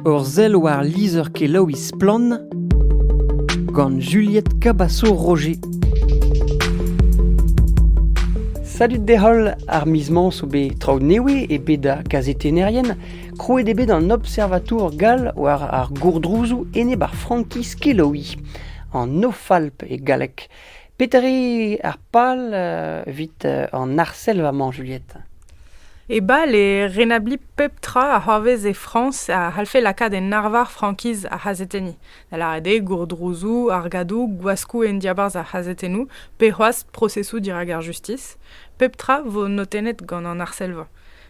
Ur sell war lizher-kelaouiñ Splann! gant Juliette Cabasso-Roger. Salut d'e-holl, ar miz-mañ zo bet traoù newe e bed da kazetennerien. Krouet eo bet an observatour gall war ar gourdrouzoù enep ar frankiz kelaouiñ, an Nofalp e galleg. Petre ar pal evit an arsellva-mañ, Juliette? E bal eo renabliñ pep tra a c'hoarvez e Frañs a c'hallfe lakaat en arvar frankiz ar c'hazetenniñ, da lâret eo gourdrouzoù, argadoù, gwaskoù en diabarzh ar c'hazetennoù pe c'hoazh prosesoù dirak ar justis. Pep tra 'vo notennet gant an arsellva.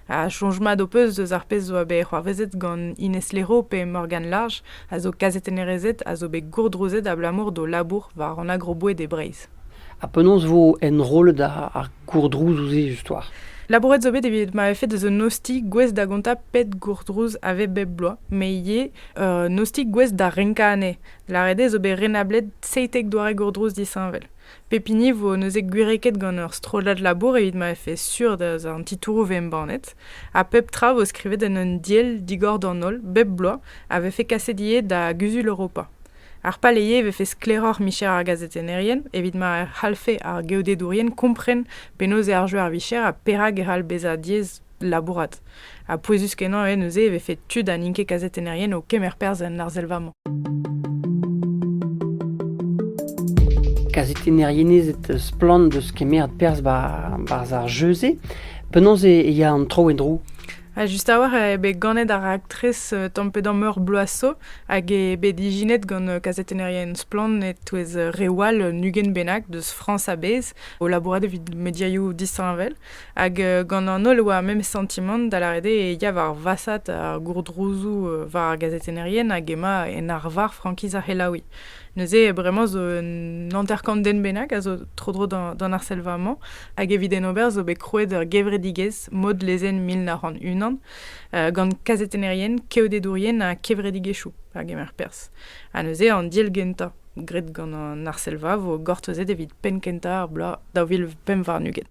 Ha soñj mat ho peus eus ar pezh zo bet c'hoarvezet gant Ines Lero pe Morgane Large, a zo kazetennerezed a zo bet gourdrouzet abalamour d'o labour war an agroboed e Breizh? Ha penaos vo enrollet ar gourdrouzoù-se justoire? Labouret zo bet evit ma vefe deus un ostilh gouest da gontañ pet gourdrouz a vez bep bloaz, met ivez un ostilh gouest da renkañ anezhe. Lâret eo zo bet renablet seitek doare gourdrouz disheñvel. Pep hini vo neuze gwireket gant ur strollad labour evit ma vefe sur da an titouroù vo embannet, ha pep tra vo skrivet en un diell digor d'an holl bep bloaz a vefe kaset ivez da Guzul Europa. Ar paleye e vefe sklaeroc'h micher ar gazetennerien evit ma e c'hallfe ar geodedourien kompren penaos eo ar jeu ar vicher ha perak e c'hall bezañ diaes labourat. Ha pouezus-kenañ eo neuze e vefe tud ha n'int ket kazetennerien o kemer perzh en arsellva-mañ. Kazetennerien ez eus splann deus kemer perzh barzh ar jeu-se. Penaos e ya an tro en-dro Ha just a-walc'h eo bet ganet ar raktres euh, tamm-pe-damm meur bloaso hag eo bet ijinet gant euh, kazetennerien splann e-touez euh, reoù all un ugent bennak deus Frañs a-bezh o labourat evit mediaioù disheñvel. Hag gant an holl oa memes santimant da lâret eo e ya war vasat ar gourdrouzoù war ar gazetennerien hag emañ en arvar frankiz ar c'helaouiñ. Neuze bremañ zo un hanter-kant den bennak a zo tro-dro d'an arsellva-mañ hag evit en ober zo bet krouet ur gevredigezh mod lezenn mil nav c'hant unan gant kazetennerien, keodedourien ha kevredigezhioù a gemer perzh. Ha neuze an deal gentañ graet gant an arsellva vo gortozet evit penn kentañ ar bloaz daou vil pemp warn-ugent.